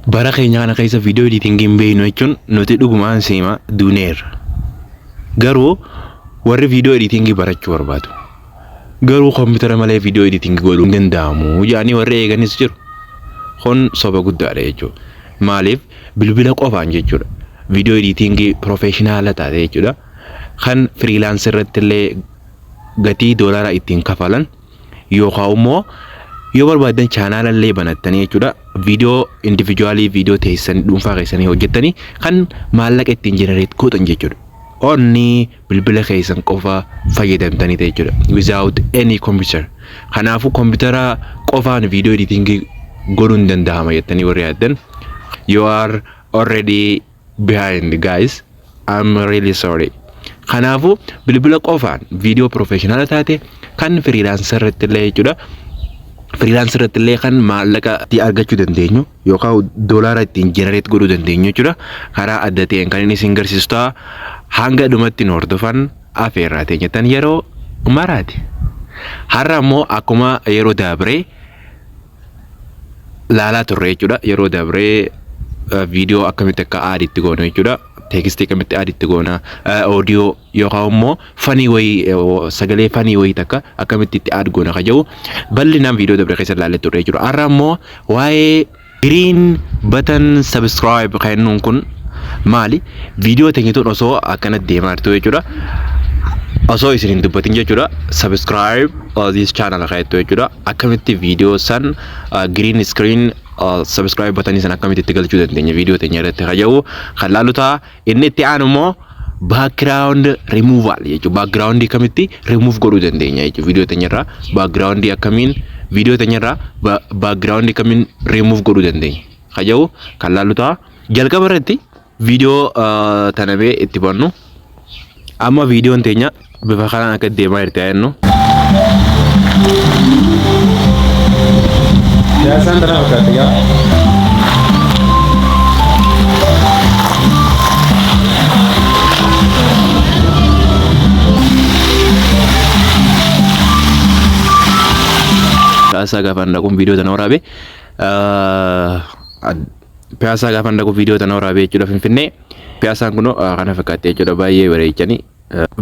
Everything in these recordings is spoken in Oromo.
Bara keenya kana keessa video editing hin beeknu jechuun nuti dhugumaan siima duuneerra. Garuu warri video editing barachuu barbaadu. Garuu koompitara malee video editing godhuu hin danda'amu jedhanii warri eeganis jiru. Kun soba guddaadha jechuudha. Maaliif bilbila qofaan jechuudha. Video editing professional taate jechuudha. Kan freelance irratti illee gatii doolaara ittiin kafalan yookaan immoo yoo barbaaddan chaanaala illee banattanii jechuudha viidiyoo individuaalii viidiyoo teessan dhuunfaa keessanii hojjettanii kan maallaqa ittiin jenereet gootan jechuudha. Onni bilbila keessan qofa fayyadamtanii ta'e jechuudha. Without any computer. Kanaafuu kompiitara qofaan viidiyoo editingii godhuun danda'ama jettanii warri yaaddan. You are already behind guys I'm really sorry kanaafu bilbila qofaan viidiyoo professional taate kan freelancer irratti illee jechuudha freelancer irratti illee kan maallaqa itti argachuu dandeenyu yookaan doolaara ittiin generate godhuu dandeenyu jechuudha karaa adda ta'een kan inni isin garsiisu ta'a hanga dhumatti nu hordofan afeerraa teenyatan yeroo maraati har'a immoo akkuma yeroo daabree laalaa turre jechuudha. Yeroo dabree viidiyoo akkamitti akka aadi itti goonu jechuudha. Teekistii akkamitti aadi itti goona. Oodiyoo yookaan immoo fanii wayii sagalee fanii wayii takka akkamitti itti aadi goona kan jedhu bal'inaan viidiyoo dabree keessa laalee turre jechuudha. Har'a immoo waa'ee giriin batan sabiskiraayib kennuun kun maali? Viidiyoo teenya tun osoo akkana deemaa jirtu jechuudha. Osoo isin hin dubbatin jechuudha. Subscribe uh, this channel kan jettu jechuudha. Akkamitti viidiyoo san uh, green screen uh, subscribe batanii san akkamitti itti galchuu dandeenya viidiyoo teenya irratti kan jedhu kan laalu ta'a. Inni itti aanu immoo background removal jechuudha. Background akkamitti remove godhuu dandeenya jechuudha viidiyoo teenya irraa. Background akkamiin viidiyoo teenya irraa background akkamiin remove godhuu dandeenya kan jedhu kan laalu ta'a. Jalqaba irratti viidiyoo tana bee itti bannu. Amma viidiyoon teenya bifa kanaan akka deemaa jirti haa jennu. Siyaasaan tana fakkaatti gaa. Kaasaa gaafa hin dhaquun viidiyoo tana waraabe. Piyaasaa gaafan dhaqu viidiyoo tana waraabee jechuudha Finfinnee. Piyaasaan kun kana fakkaatti jechuudha baay'ee bareechanii.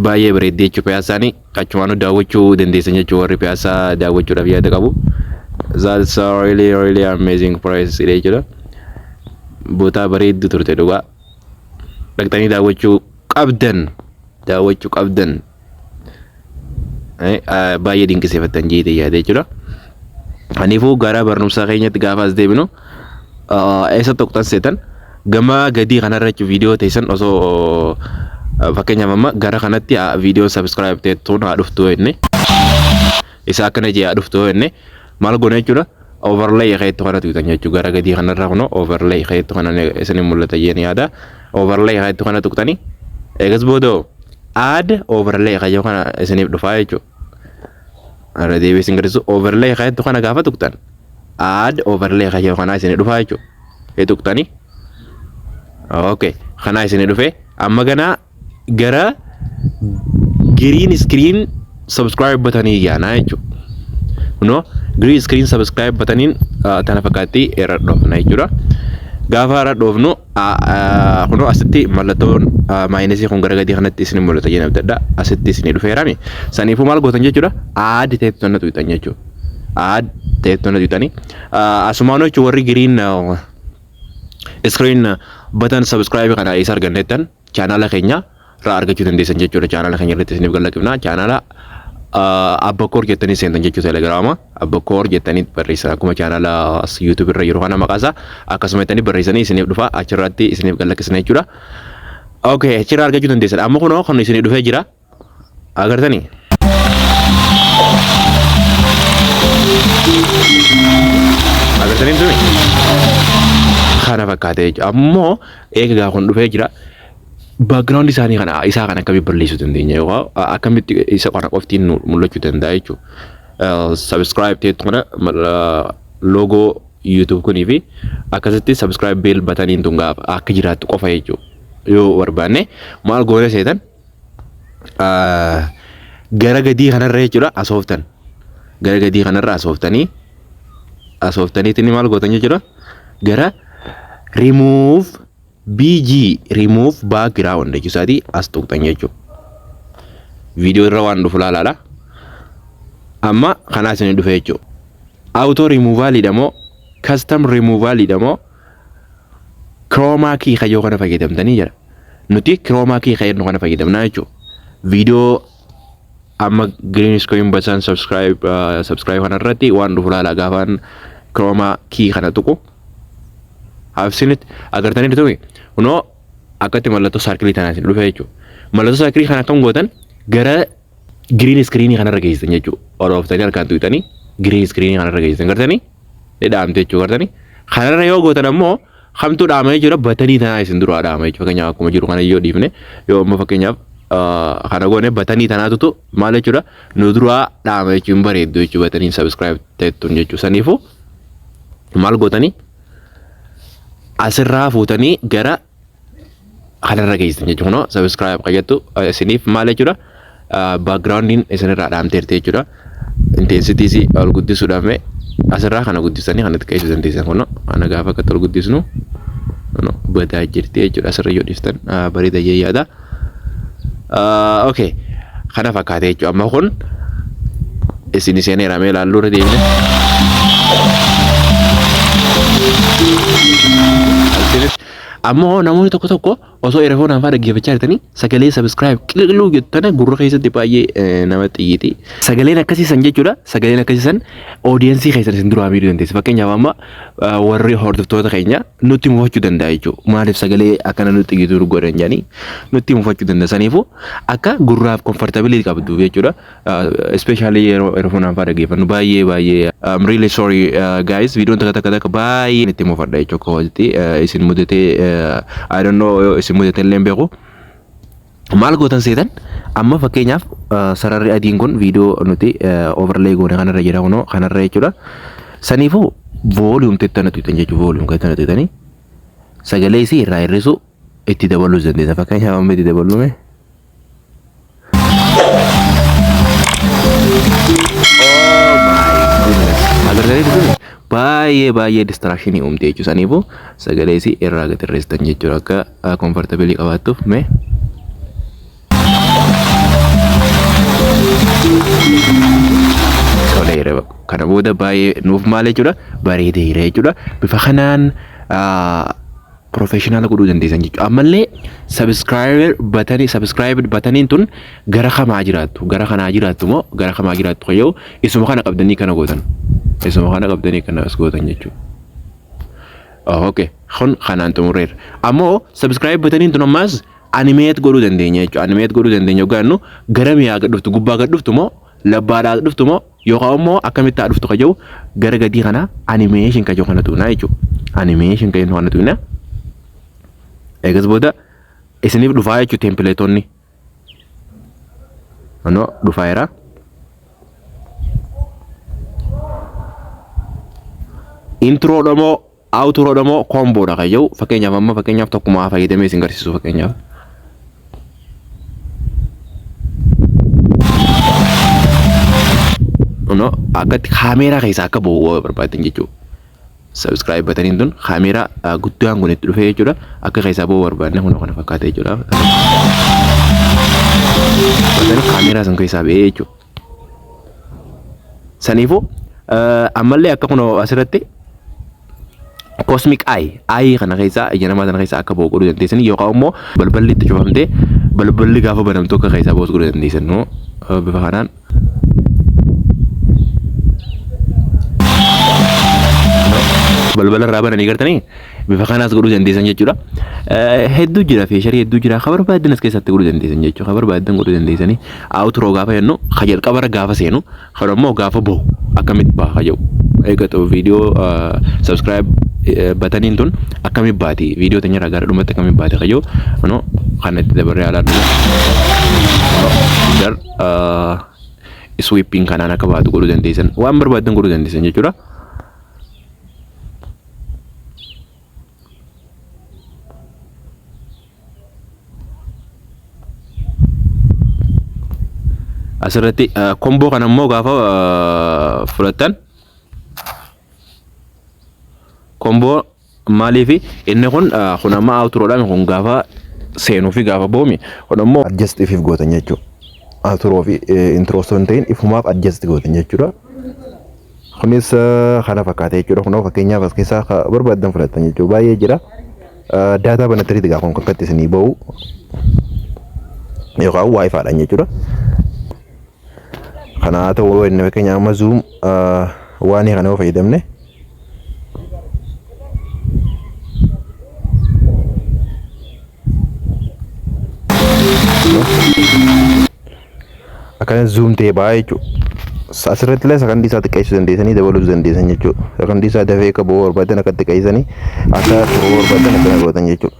Baay'ee bareeddee jechuudha piyaasaanii achumaanuu daawwachuu dandeessan jechuudha warri piyaasaa daawwachuudhaaf yaada qabu. That's a really really amazing place dha jechuudha. Bootaa bareeddu turte dhugaa. Dhaqxanii daawwachuu qabdan. Daawwachuu qabdan. baay'ee dinqisiifattan jeetee yaada jechuudha. Kanaafuu gara barnoota keenyatti gaafa as deebinu eessa tokkotan seetan gama gadii kanarra jechuun viidiyoo teessan osoo fakkeenyaaf amma gara kanatti viidiyoo sabiskiraayib teettuun haa dhuftu inni isa akkana jee haa dhuftu inni maal goona jechuudha overlay keettu kana tuqxan jechuudha gara gadii kanarra kunoo overlay keettu kana isin mul'ata jeen yaada overlay keettu kana tuqxani eegas booda add overlay kayyoo kana isiniif dhufaa jechuudha irra deebi'ee isin garsiisu overlay keettu kana gaafa tuqxan add overlay kayyoo kana isin dhufaa jechuudha ee tuqxani okay kana isin dhufee amma ganaa gara green screen subscribe button yaana jechuudha. Kunoo green screen subscribe button kana fakkaatti irra dhoofna jechuudha. Gaafa irra dhoofnu kunoo asitti mallattoon maayinasii kun gara gadii kanatti isin mul'ata jedhee abdadha. Asitti isin dhufeerami. Saniifuu maal gootan jechuudha? Aad teettonna tuutan jechuudha. Aad teettonna tuutanii asumaan jechuun warri green screen button subscribe kana isa argannettan chaanaala keenya irraa argachuu dandeessan jechuudha chaanaala keenya irratti isiniif gallaqifna chaanaala abbakoor jettanii seentan jechuu telegiraama abbakoor jettanii barreessan akkuma chaanaala yuutuub irra yeroo kana maqaasa akkasuma jettanii barreessanii isiniif dhufa achirratti isiniif gallaqisna jechuudha. Okay, achirraa argachuu dandeessan amma kunoo kan isinii dhufee jira Agartanii? Agartanii tuni? Kana fakkaatee jechuudha. Ammoo eegaa kun dhufee jira. Background isaanii kana isaa kana akkamitti balleessuu dandeenya yookaan akkamitti isa kana qoftiin nu mul'achuu danda'a jechuudha. Subscribe ta'etu kana loogoo YouTube kunii fi akkasitti subscribe bell bataniin tun gaafa akka jiraattu qofa jechuudha. Yoo barbaanne maal goone seetan gara gadii kanarra jechuudha asooftan gara gadii kanarra asooftanii asooftaniitiin maal gootan jechuudha gara remove bg remove background jechuu isaatii as tuqxan jechuudha viidiyoo irra waan dhufu laalaadha amma kanaa isin dhufe jechuudha auto removalidha moo custom removalidha moo kiroomaa kii kayyoo kana fayyadamtanii jira. Nuti kiroomaa kii kayyadnu kana fayyadamnaa jechuudha. Viidiyoo amma green screen button subscribe uh, subscribe kana irratti waan dhufu laala gaafaan kiroomaa kii kana tuqu. Haafsiinit agartanii dhufee kunoo akkatti mallattoo saarkilii tanaatiin dhufe jechuudha. Mallattoo saarkilii kana akkam gootan gara Giriin iskiriinii kanarra geessisan jechuudha. Ol ooftanii harkaan tuqxanii giriin iskiriinii kanarra geessisan gartanii ni dhaamte jechuudha gartanii. Kanarra yoo gootan ammoo kamtu dhaama jechuudha batanii tanaa isin duraa dhaama jechuudha fakkeenyaaf akkuma jiru kana yoo dhiifne yoo ammoo fakkeenyaaf kana goone batanii tanaatutu maal jechuudha nu duraa dhaama jechuudha hin bareeddu jechuudha batanii sabiskiraayib ta'ettuun jechuudha saniifuu maal gootanii asirraa fuutanii gara kanarra geessan jechuudha. Kunoo sabiskiraayib qayyattu isiniif maal jechuudha? Baakgiraawundiin isinirraa dhaamteerti jechuudha. Inteensitiisi ol guddisuudhaaf mee asirraa kana guddisanii kanatti qeessuu dandeessan kunoo kana gaafa akkatti ol guddisnu badaa jirti jechuudha. Asirra yoo dhiistan bareeda jee yaada. okay kana fakkaate jechuudha amma kun isin seeneera mee ilaalluu irra deemne. Amma hoo namoonni tokko tokko osoo erefoon anfaa dhaggeeffachaa jirtanii sagalee sabiskiraayib qiliqiluu jettana gurra keessatti baay'ee nama xiyyiiti. Sagaleen akkasii san jechuudha. Sagaleen akkasii san oodiyensii keessan isin duraa miidhuu dandeessi. Fakkeenyaaf amma warri hordoftoota keenya nutti mufachuu danda'a jechuudha. Maaliif sagalee akkana nutti gidduu godhan jedhanii nutti mufachuu danda'a. Saniifuu akka gurraaf komfortabilii qabdu jechuudha. Ispeeshaalii yeroo erfoonaan fa'aa dhaggeeffannu baay'ee baay'ee I'm really sorry uh, guys viidiyoon takka takka takka baay'ee itti mufadha jechuudha. Kooti isin mudatee I don't know isin mudatee illee hin beeku. Maal gootan seetan amma fakkeenyaaf sararri adiin kun viidiyoo nuti overlay goone kanarra jira kunoo kanarra jechuudha. Saniifuu volume tettana tuqxan jechuudha volume tettana tuqxanii sagalee isii irraa hir'isuu itti dabaluus dandeessa fakkeenyaaf amma itti dabaluume. Agartanii turtanii baay'ee baay'ee distraction uumte jechuudha. Saniifuu sagalee isii irraa gad hir'istan jechuudha akka haa comfortabilii qabaattuuf mee toleera kana booda baay'ee nuuf maal jechuudha bareedeera jechuudha bifa kanaan professional godhuu dandeessan jechuudha ammallee subscriber batanii subscribed bataniin tun gara kamaa jiraattu gara kanaa jiraattu moo gara kamaa jiraattu kayyoo isuma kana qabdanii kana gootan isuma kana qabdanii kana as gootan jechuudha ok kun kanaan xumurreerra ammoo subscribe bataniin tun ammaas animeet godhuu dandeenya jechuudha animeet godhuu dandeenya ogaannu garam yaa gad dhuftu gubbaa gad dhuftu moo labbaadhaa gad dhuftu moo yookaan immoo akkamitti haa dhuftu ka jiru gara gadii kana animeeshin ka jiru kana tuqnaa jechuudha animeeshin ka jiru kana tuqnaa eegas booda isiniif dhufaa jechuudha teempileetonni Kunoo dhufaa jira. Introo dhamoo outro dhamoo komboodha kan jedhu fakkeenyaaf amma fakkeenyaaf tokkumaa fayyadamee isin garsiisu fakkeenyaaf. Kunoo akkatti kaameeraa keessaa akka bahu barbaaddan jechuudha. subscribe bataniin tun kaameeraa guddaan kun itti dhufee jechuudha akka keessaa ba'uu barbaadne kun kana fakkaata jechuudha. Batanii kaameeraa san keessaa ba'ee jechuudha. Saniifuu ammallee akka kun asirratti cosmic eye eye kana keessaa ija namaa sana keessaa akka ba'u godhuu dandeessan yookaan immoo balballi itti cufamtee balballi gaafa banamtu akka keessaa ba'us godhuu dandeessan bifa kanaan balbala irraa bananii gartanii bifa kanaas godhuu dandeessan jechuudha. Hedduu jira feesharii hedduu jira kan barbaadan as keessatti godhuu dandeessan jechuudha. Kan barbaadan godhuu dandeessanii awuturoo gaafa jennu kan jalqaba irra gaafa seenu kan ammoo gaafa bahu akkamitti baha kan jedhu. Eeggatu viidiyoo subscribe bataniin tun akkamitti baati viidiyoo teenya irraa gara dhumatti akkamitti baati kan jedhu. Kan itti dabarree alaa dhufu. sweeping kanaan akka baatu godhuu dandeessan waan barbaadan godhuu dandeessan jechuudha. Asirratti komboo kana immoo gaafa fudhattan komboo Maaliifi inni kun kun amma outro dha kun gaafa seenuu fi gaafa boomi kun ammoo adjust ifif gootan jechuu outro fi intro osoo hin ta'in ifumaaf adjust gootan jechuudha. Kunis kana fakkaata jechuudha kun fakkeenyaaf as keessaa ka barbaaddan fudhattan jechuudha baay'ee jira. Daataa banattaniiti gaa kun kakkatti isinii ba'u yookaan wifi dhaan jechuudha. Kana haa ta'u yoo inni fakkeenya amma zoom waan kana yoo fayyadamne akkana zoom ta'e ba'aa jechuudha. Asirratti illee sakandii isaa xiqqeessuu dandeessanii dabaluus dandeessan jechuudha. Sakandii isaa dafee akka ba'uu barbaadan akka xiqqeessanii akka turuu barbaadan akkana gootan jechuudha.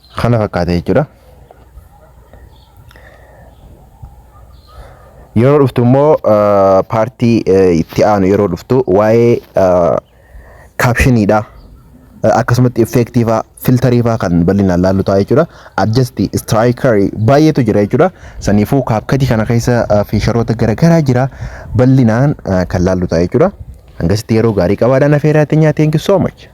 Kana fakkaata jechuudha. Yeroo dhuftu immoo paartii itti aanu yeroo dhuftu waa'ee kaapshiniidha. Akkasumatti effeektiifaa filtariifaa kan bal'inaan laallu ta'a jechuudha. Adjasti istiraayikarii baay'eetu jira jechuudha. Saniifuu kaapkatii kana keessa fiisharoota garaagaraa jira bal'inaan kan laallu ta'a jechuudha. Hangasitti yeroo gaarii qabaadhaan afeeraa teenyaa teenki soo macha.